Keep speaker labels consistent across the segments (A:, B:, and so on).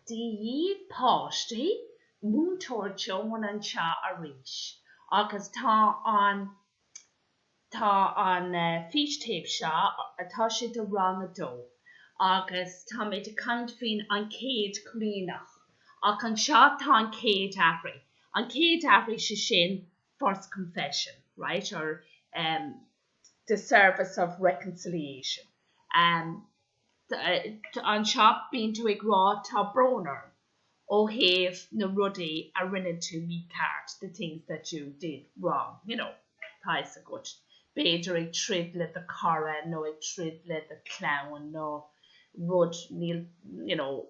A: Dia dhaoibh a pháistí, Múinteoir Joan anseo arís agus tá an, tá an fístéip seo, tá sé seo do rang a dó agus táimid ag caint faoin gCéad Chomaoineach ach anseo tá an Chéad Aithrí, an Chéad Aithrí sé sin First Confession, right, or eh, the service of reconciliation. Anseo bíonn tú ag rá tá brón orm ó thaobh na rudaí a rinne tú mícheart, the things that you did wrong, you know. Tá fhios agat, b'fhéidir ag troid le do chara nó ag troid le do chlann nó rud, níl, you know.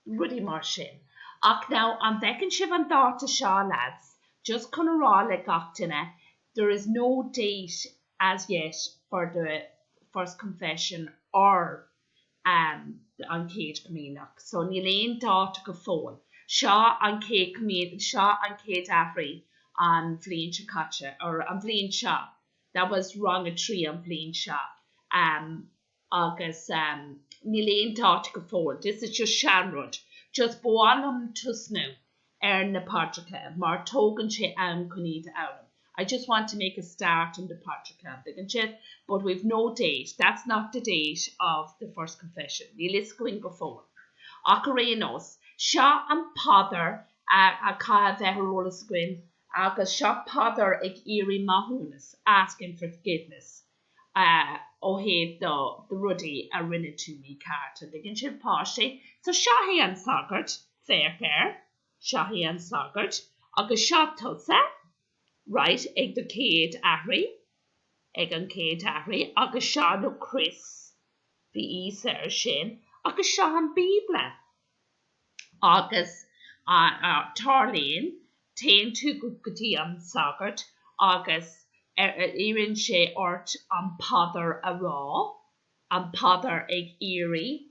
A: rudaí mar sin. Ach now, an bhfeiceann sibh an dáta seo, a leaids? Just chun a rá le gach duine, there is no date as yet for the First Confession or ehm, an Chéad Chomaoineach. So, níl aon dáta go fóill. Seo an Chéad Chomaoin, seo an Chéad Aithrí an bhliain seo caite, or an bhliain seo, that was rang a trí an bhliain seo, ehm, Agus níl aon dáta go fóill. This is just seanrud. Just ba mhaith liom tosnú ar na paidreacha mar tógann sé am chun iad a fhoghlaim. I just want to make a start on the paidreacha, an dtuigeann sibh? But we've no date, that's not the date of the first confession. Níl fhios againn go fóill. Ach ar aon nós, seo an phaidir a chaithfidh a bheith ar eolas againn agus seo paidir ag iarraidh maithiúnas, asking for forgiveness. ó thaobh do rudaí a rinne tú mícheart, an dtuigeann sibh, páistí. So seo é an sagart, féach air, seo é an sagart agus seo tusa, right, ag do chéad aithrí, ag an chéad aithrí agus seo an chrois, bhí Íosa ar sin, agus seo an Bíobla, agus tarlaíonn, téann tú go dtí an sagart agus iarrann sé ort an phaidir a rá, an phaidir ag iarraidh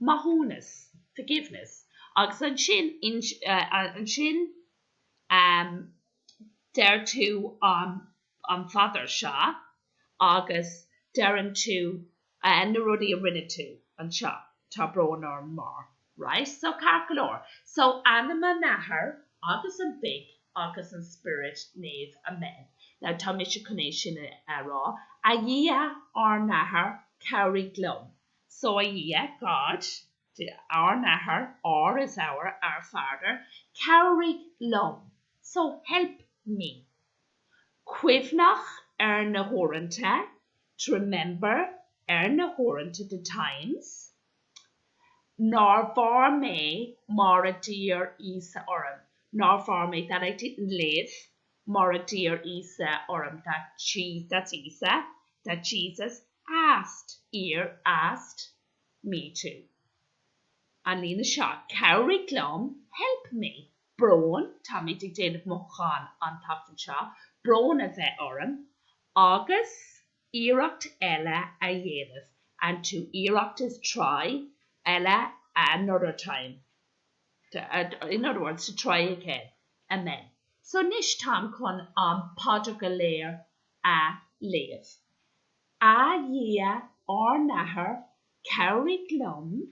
A: maithiúnas, forgiveness, agus ansin, ansin deir tú an an phaidir seo agus deireann tú na rudaí a rinne tú anseo, tá brón orm mar. right so ceart go leor so in ainm an Athar agus an Mhic agus an Spioraid Naoimh amen now tá mise chun é sin a rá A Dhia ár nAthair cabhraigh liom so a Dhia God ár nAthair ár is our our Father cabhraigh liom so help me. cuimhneach ar na huaireanta, to remember ar na huaireanta, the times, nár mhair mé mar a d'iarr Íosa orm, nár mhair mé, that I didn't live mar a d'iarr Íosa orm, that Jesus, that's Íosa, that Jesus asked, iarr, asked, me to. An líne seo, Cabhraigh liom, help me. brón, táimid ag déanamh mothúchán an tseachtain seo, brón a bheith orm, agus iarracht eile a dhéanamh, and to iarracht is try, eile another time, in other words, to try again, amen. So anois táim chun an phaidir go léir a léamh. A Dhia ár nAthair, cabhraigh liom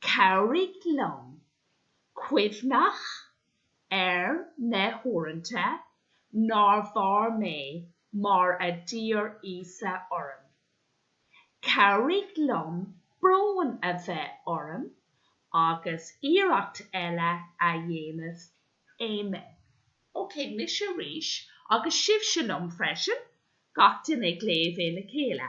A: Cabhraigh liom cuimhneach ar na huaireanta nár mhair mé mar a d'iarr Íosa orm. Cabhraigh liom brón a bheith orm agus iarracht eile a dhéanamh. Amen. Ok, mise arís, agus sibhse liom freisin, gach duine á léamh é le chéile.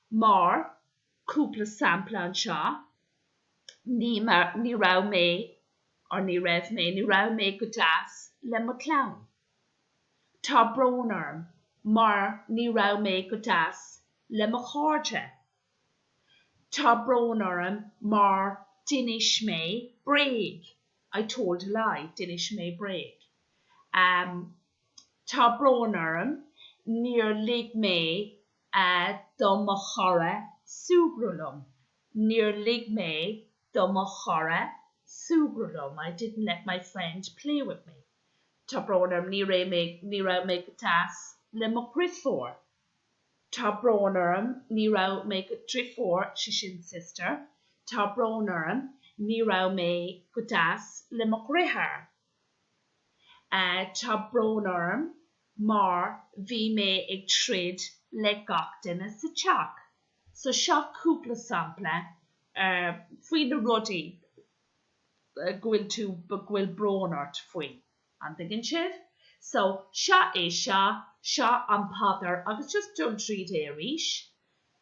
A: Mar cúpla sampla anseo, ní, ní raibh mé, or ní raibh mé, ní raibh mé go deas le mo chlann. Tá brón orm mar ní raibh mé go deas le mo chairde. Tá brón orm mar d'inis mé bréag, I told a lie, d'inis mé bréag. Tá brón orm níor lig mé a do mo chara súgradh liom, níor lig mé do mo chara súgradh liom, I didn't let my friend play with me. Tá brón orm, ní raibh mé go deas le mo dheirfiúr. Tá brón orm, ní raibh mé go, deirfiúr, sé sin sister, Tá brón orm, ní raibh mé go deas le mo dheartháir. Tá brón orm. mar bhí mé ag troid le gach duine sa teach. So seo cúpla sampla faoi na rudaí go bhfuil tú, go bhfuil brón ort faoi, an dtuigeann sibh? So seo é seo, seo an paidir agus just dul tríd é arís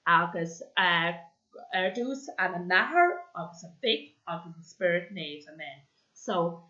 A: agus ar dtús, Ainm an Athar agus an Mhic agus an Spioraid Naoimh, Amen. So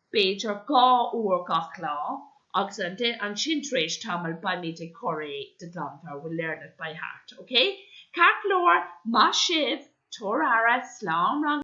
A: b'fhéidir dhá uair gach lá, agus ansin tar éis tamaill beimid ag cur é de ghlanmheabhair, we'll learn it by heart, ok? Ceart go leor, maith sibh, tabhair aire, slán, rang.